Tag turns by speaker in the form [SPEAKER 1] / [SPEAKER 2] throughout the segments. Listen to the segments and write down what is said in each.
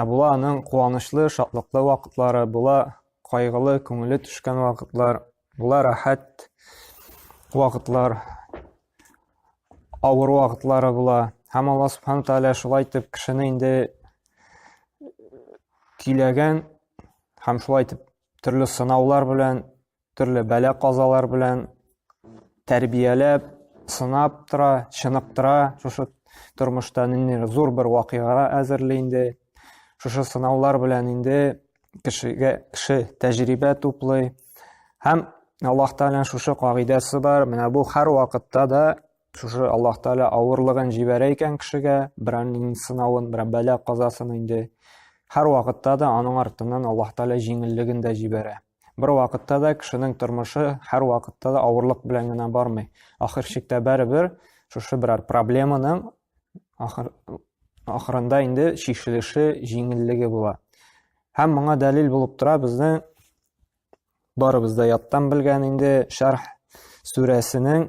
[SPEAKER 1] Ә була аның куанычлы, шатлыклы вакытлары, була кайгылы, күңеле төшкән вакытлар, була рәхәт вакытлар, авыр вакытлары була. Һәм Алла Субхану Тәгалә шулай итеп кешене инде көйләгән һәм шулай итеп төрле сынаулар белән төрле бәла-казалар белән тәрбияләп, сынап тора, чыныктыра, шушы тормышта ниндидер зур бер вакыйгага әзерли инде. Шушы сынаулар белән инде кешегә кеше тәҗрибә туплый. Һәм Аллаһ Тәгаләнең шушы кагыйдәсе бар, менә бу һәр вакытта да шушы Аллаһ Тәгалә авырлыгын җибәрә икән кешегә, берәр сынавын, берәр бәла казасын инде һәр вакытта да аның артыннан Аллаһ Тәгалә җиңеллеген дә җибәрә. Бер вакытта да кешенең тормышы һәр вакытта да авырлык белән генә бармый. Ахыр чиктә бәребер шушы берәр проблеманың ахыр ахырында инде чишелеше, җиңеллеге була. Һәм моңа дәлил булып тора безнең барыбыз да яттан белгән инде Шәрх сүрәсенең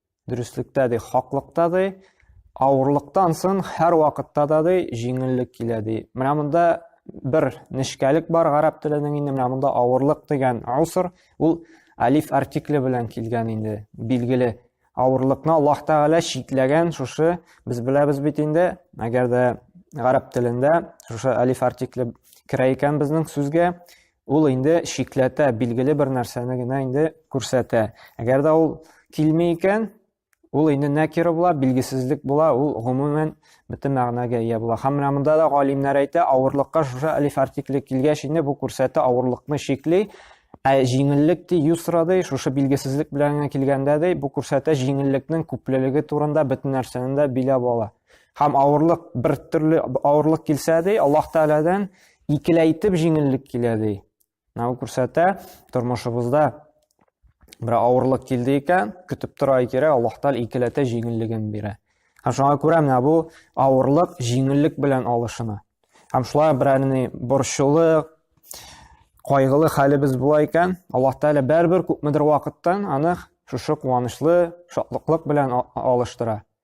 [SPEAKER 1] Дөреслектә ди, хаклыкта ди, авырлыктан сон һәр вакытта да ди, җиңеллек килә ди. Менә монда бер нечкәлек бар гарәп теленең инде менә монда авырлык дигән уср, ул алиф артикле белән килгән инде, билгеле. Авырлыкны Аллаһ Тәгалә чикләгән шушы, без беләбез бит инде, әгәр дә гарәп телендә шушы алиф артикле керә икән безнең сүзгә, Ул инде шикләтә, билгеле бер нәрсәне генә инде күрсәтә. Әгәр дә ул килми икән, ул инде нәкира була, билгесезлек була, ул гомумән бөтен мәгънәгә ия була. Һәм менә монда да галимнәр әйтә, авырлыкка шушы алиф артикле килгәч инде бу күрсәтә авырлыкны шикли, ә җиңеллек ди юсра ди, шушы билгесезлек белән генә килгәндә ди, бу күрсәтә җиңеллекнең күплелеге турында бөтен нәрсәне дә биләп ала. Һәм авырлык бер төрле авырлык килсә ди, Аллаһ Тәгаләдән икеләйтеп җиңеллек килә ди. Менә күрсәтә, тормышыбызда бер авырлык килде икән, көтеп тора кирәк, Аллаһ Тәгалә икеләтә җиңеллеген бирә. Һәм шуңа күрә менә бу авырлык җиңеллек белән алышына. Һәм шулай берәрне борчулы, кайгылы хәлебез була икән, Аллаһ Тәгалә бәрбер күпмедер вакыттан аны шушы куанычлы, шатлыклык белән алыштыра.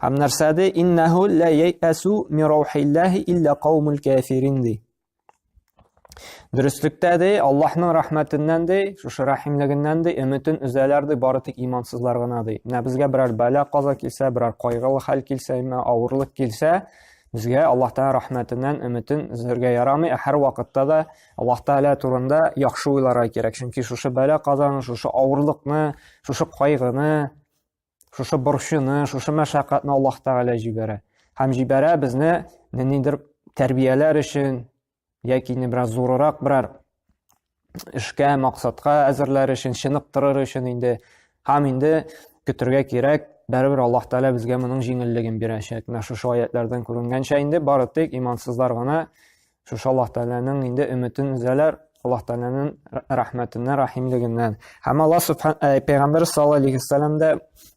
[SPEAKER 1] Һәм нәрсә ди? Иннәһу ла яйәсу ми раухиллаһи илля каумул кафирин ди. Дөреслектә ди, Аллаһның рәхмәтеннән ди, шушы рәхимлегеннән ди, өметен өзәләр ди, бары тик имансызлар гына ди. Менә безгә берәр бәла каза килсә, берәр кайгылы хәл килсә, имә авырлык килсә, безгә Аллаһ Тәгалә рәхмәтеннән өметен үзәргә ярамый, ә һәр вакытта да Аллаһ Тәгалә турында яхшы уйларга кирәк. Чөнки шушы бәла казаны, шушы авырлыкны, шушы кайгыны Шушы борчуны, шушы мәшәкатьне Аллаһ Тәгалә җибәрә. Һәм җибәрә безне ниндидер тәрбияләр өчен яки не бераз зурырак берәр эшкә, максатка әзерләр өчен, чыныктырыр өчен инде һәм инде көтергә кирәк, бәрәбәр Аллаһ Тәгалә безгә моның җиңеллеген бирәчәк. Менә шушы аятлардан күренгәнчә инде бары тик имансызлар гына Шушы Аллаһ Тәгаләнең инде өметен өзәләр, Аллаһ Тәгаләнең рәхмәтеннән, рәхимлегеннән. Һәм Аллаһ Субхан э, Пәйгамбер саллаллаһу алейхи вассалам да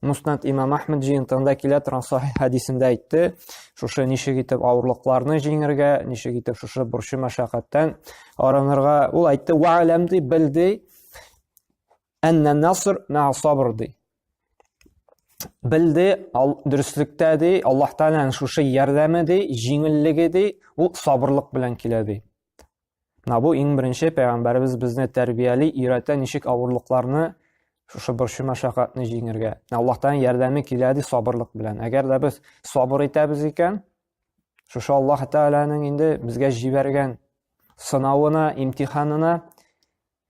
[SPEAKER 1] Муснат Имам Ахмед җыентыгында килә торган сахих хәдисендә әйтте, шушы ничек итеп авырлыкларны җиңәргә, ничек итеп шушы борчу мәшәкатьтән арынырга. Ул әйтте: "Ва алам ди, бил ди, анна наср ма сабр ди." Белде, ал, дөреслектә ди, Аллаһ Тәгаләнең шушы ярдәме ди, җиңеллеге ди, ул сабырлык белән килә ди. Менә бу иң беренче пәйгамбәребез безне тәрбияли, өйрәтә ничек авырлыкларны, шушы борчу мәшәкатьне җиңергә. Аллаһ Тәгаләнең ярдәме килә ди сабырлык белән. Әгәр дә без сабыр итәбез икән, шушы Аллаһ Тәгаләнең инде безгә җибәргән сынавына, имтиханына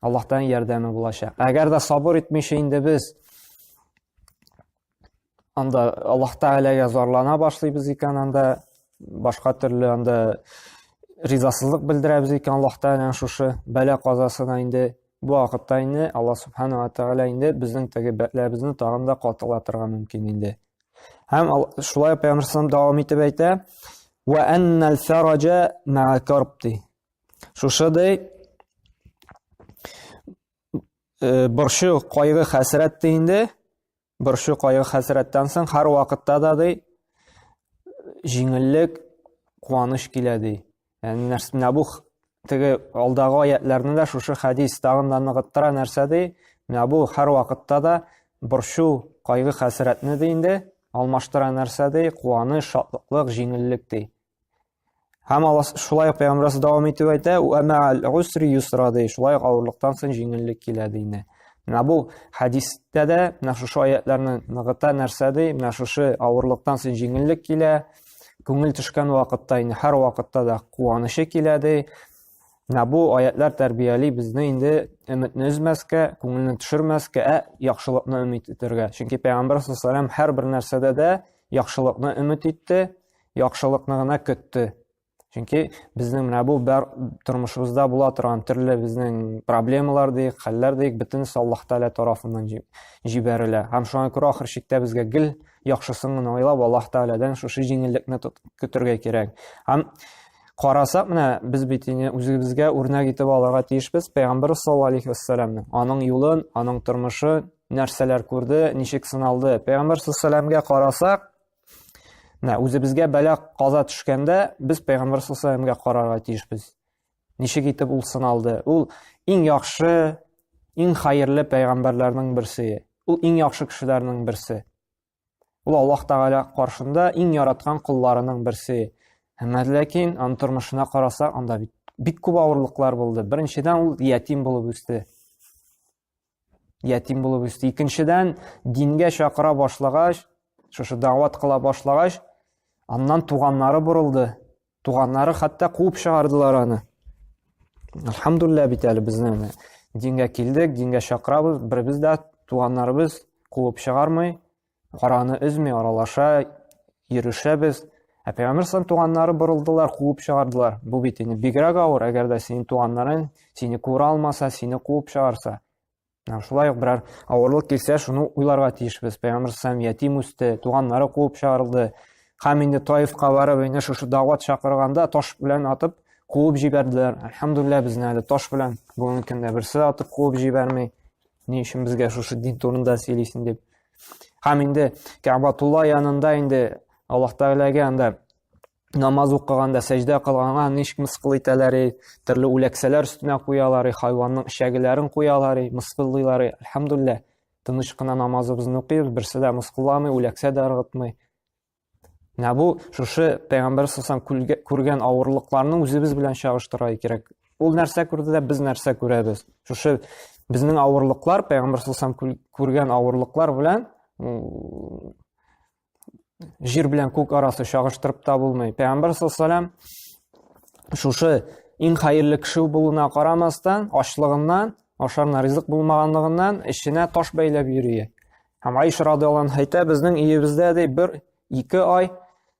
[SPEAKER 1] Аллаһтан ярдәме булачак. Әгәр дә сабыр итмичә инде без анда Аллаһ Тәгаләгә зарлана башлыйбыз икән, анда башка төрле анда ризасызлык белдерәбез икән Аллаһ Тәгаләнең шушы бәла казасына инде бу вакытта инде Аллаһ Субханала Тәгалә инде безнең теге бәләбезне тагын да катылатырга мөмкин инде. Һәм шулай Пәйгамбәр дәвам итеп әйтә: "Ва аннал фараҗа ма'a карбти" Шушыдай э, борчу, кайгы, хәсрәт те инде, борчу, кайгы, хәсрәттән соң һәр вакытта да ди, җиңеллек, куаныч килә ди. Яни нәрсә бу теге алдагы аятларны да шушы хәдис тагын да ныгыттыра нәрсә ди? Менә бу һәр вакытта да борчу, кайгы, хәсрәтне ди инде, алмаштыра нәрсә ди? Куаныч, шатлык, җиңеллек ди. Һәм Аллаһ шулай ук Пәйгамбәрбез дәвам итеп әйтә, "Ва ма'ал усри юсра" ди. Шулай ук авырлыктан соң җиңеллек килә ди инде. Менә бу хәдистә дә менә шушы аятларны ныгыта нәрсә ди? Менә шушы авырлыктан соң җиңеллек килә. Күңел төшкән вакытта инде һәр вакытта да куанышы килә ди. Менә бу аятлар тәрбияли безне инде өметне өзмәскә, күңелне төшермәскә, ә яхшылыкны өмет итәргә. Чөнки Пәйгамбәр саллаллаһу һәр бер нәрсәдә дә яхшылыкны өмет итте, яхшылыкны гына көтте. Чөнки безнең менә бу бар тормышыбызда була торган төрле безнең проблемалар дик, хәлләр дик, бөтенесе Аллаһ Тәгалә тарафыннан җибәрелә. Һәм шуңа күрә ахыр чиктә безгә гел яхшысын гына уйлап Аллаһ Тәгаләдән шушы җиңеллекне көтергә кирәк. Һәм карасак менә без бит инде үзебезгә үрнәк итеп алырга тиешбез пәйгамбәр саллаллаһу алейхи вассаламны. Аның юлын, аның тормышын нәрсәләр күрде, ничек сыналды. Пәйгамбәр саллаллаһу алейхи вассаламга карасак, Менә үзебезгә бәла каза төшкәндә, без Пәйгамбәр саллаллаһу алейһи карарга тиешбез. Ничек итеп ул сыналды? Ул иң яхшы, иң хәерле пәйгамбәрләрнең берсе. Ул иң яхшы кешеләрнең берсе. Ул Аллаһ Тәгалә каршында иң яраткан кулларының берсе. Әмма ләкин аның тормышына карасак, анда бит бик күп авырлыклар булды. Беренчедән ул ятим булып үсте. ятим булып үсте икенчедән дингә чакыра башлагач шушы дәват кыла башлагач аннан туганнары борылды туганнары хәтта куып чыгардылар аны альхамдулилля бит әле безнең дингә килдек дингә чакырабыз беребез дә туганнарыбыз куып чыгармый Караны өзми аралаша, йөрешәбез. Ә Пәйгамбер сан туганнары борылдылар, куып чыгардылар. Бу бит инде бигрәк авыр, әгәр дә синең туганнарың сине күрә алмаса, сине куып чыгарса. Менә шулай ук берәр авырлык килсә, шуны уйларга тиешбез. Пәйгамбер сан ятим үсте, туганнары куып чыгарылды. Хәм инде Таифка барып, инде шушы дәват чакырганда таш белән атып куып җибәрделәр. Әлхәмдулилла безне әле таш белән бүгенге көндә берсе атып куып җибәрми. Ни өчен безгә шушы дин турында сөйлисең дип. Һәм инде Кәбатулла янында инде Аллаһ Тәгаләгә анда намаз укыганда, сәҗдә кылганда ничек мыскыл итәләр, төрле үләксәләр өстенә куялар, хайванның эчәгеләрен куялар, мыскыллыйлар. Әлхәмдулилла, тыныч кына намазыбызны укыйбыз, берсе дә мыскылламый, үләксә дә ыргытмый. Менә бу шушы пәйгамбәр сасам күргән авырлыкларны үзебез белән чагыштыра кирәк. Ул нәрсә күрде дә без нәрсә күрәбез. Шушы безнең авырлыклар пәйгамбәр сасам күргән авырлыклар белән җир белән күк арасы чагыштырып та булмый. Пәйгамбәр сасалам шушы иң хәерле кеше булуына карамастан, ачлыгыннан, ашарына ризык булмаганлыгыннан эшенә таш бәйләп йөри. Һәм Айша радиалан әйтә, безнең өебездә ди бер ике ай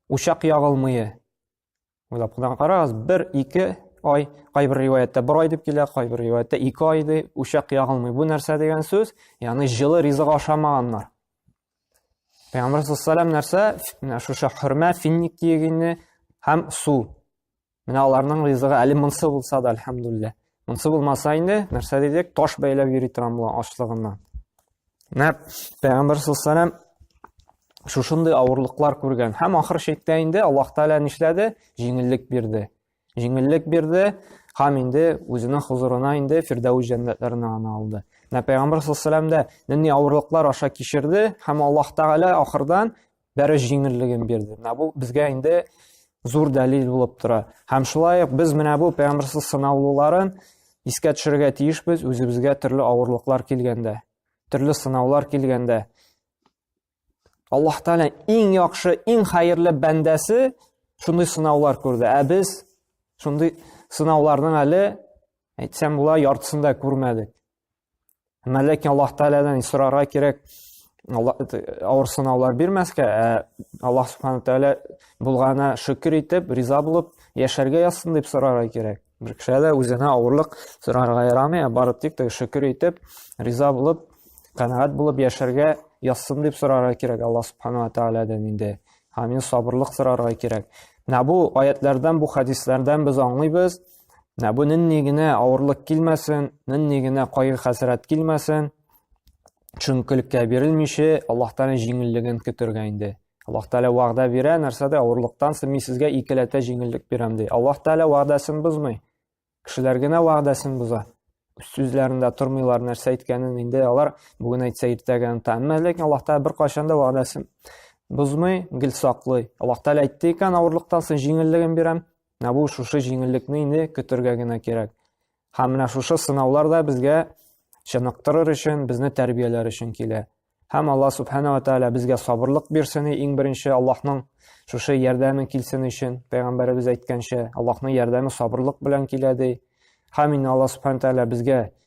[SPEAKER 1] учак ягылмые. Уйлап кына карагыз, бер ике ай, кайбер риваяттә бер ай дип килә, кайбер риваяттә ике ай ди, учак ягылмый. Бу нәрсә дигән сүз? Ягъни җылы ризык ашамаганнар. Пәйгамбәр саллаллаху нәрсә? Менә шушы хөрмә, финник киегенне һәм су. Менә аларның ризыгы әле монсы булса да, әлхәмдуллә. Монсы булмаса инде, нәрсә дидек, таш бәйләп йөри торам була ачлыгыннан. Менә Пәйгамбер саллаллаху шушындый авырлыклар күргән. Һәм ахыр чиктә инде Аллаһ Тәгалә нишләде? Җиңеллек бирде. Җиңеллек бирде һәм инде үзенең хузурына инде Фирдәүс җәннәтләренә аны алды. Менә Пәйгамбер саллаллаху алейһи дә нинди авырлыклар аша кичерде һәм Аллаһ Тәгалә ахырдан бәрү җиңеллеген бирде. Менә бу безгә инде зур дәлил булып тора. Һәм шулай ук без менә бу пәйгамбәрсез сынаулыларын искә төшерергә тиешбез үзебезгә төрле авырлыклар килгәндә, төрле сынаулар килгәндә. Аллаһ Тәгалә иң яхшы, иң хәерле бәндәсе шундый сынаулар күрде. Ә без шундый сынауларның әле әйтсәм була яртысын да күрмәдек. Әмма ләкин Аллаһ Тәгаләдән сорарга кирәк, авыр сынаулар бирмәскә, ә Аллаһ Субхану Тәгалә булгана шөкер итеп, риза булып яшәргә язсын дип сорарга кирәк. Бер кешегә дә үзенә авырлык сорарга ярамый, ә бары тик тә шөкер итеп, риза булып, канәгать булып яшәргә язсын дип сорарга кирәк Аллаһ Субхану Тәгаләдән инде. Һәм сабырлык сорарга кирәк. Менә бу аятлардан, бу хәдисләрдән без аңлыйбыз, Ә бу нинди генә авырлык килмәсен, нинди генә кайгы-хәсрәт килмәсен, чөнкелеккә бирелмичә, Аллаһ Тәгалә җиңеллеген көтергә инде. Аллаһ Тәгалә вәгъдә бирә, нәрсәдә авырлыктан соң мин сезгә икеләтә җиңеллек бирәм ди. Аллаһ Тәгалә вәгъдәсен бозмый. Кешеләр генә вәгъдәсен боза. Сүзләрендә тормыйлар, нәрсә әйткәнен инде алар бүген әйтсә иртәгә оныта. Әмма ләкин Аллаһ Тәгалә беркайчан да вәгъдәсен бозмый, гел саклый. Аллаһ Тәгалә әйтте икән, авырлыктан соң җиңеллеген бирәм, Менә бу шушы җиңеллекне инде көтергә генә кирәк. Һәм менә шушы сынаулар да безгә чыныктырыр өчен, безне тәрбияләр өчен килә. Һәм Аллаһ Субхана ва Тааля безгә сабырлык бирсен, иң беренче Аллаһның шушы ярдәме килсен өчен, пәйгамбәребез әйткәнчә, Аллаһның ярдәме сабырлык белән килә ди. Һәм инде Аллаһ Субхана Тааля безгә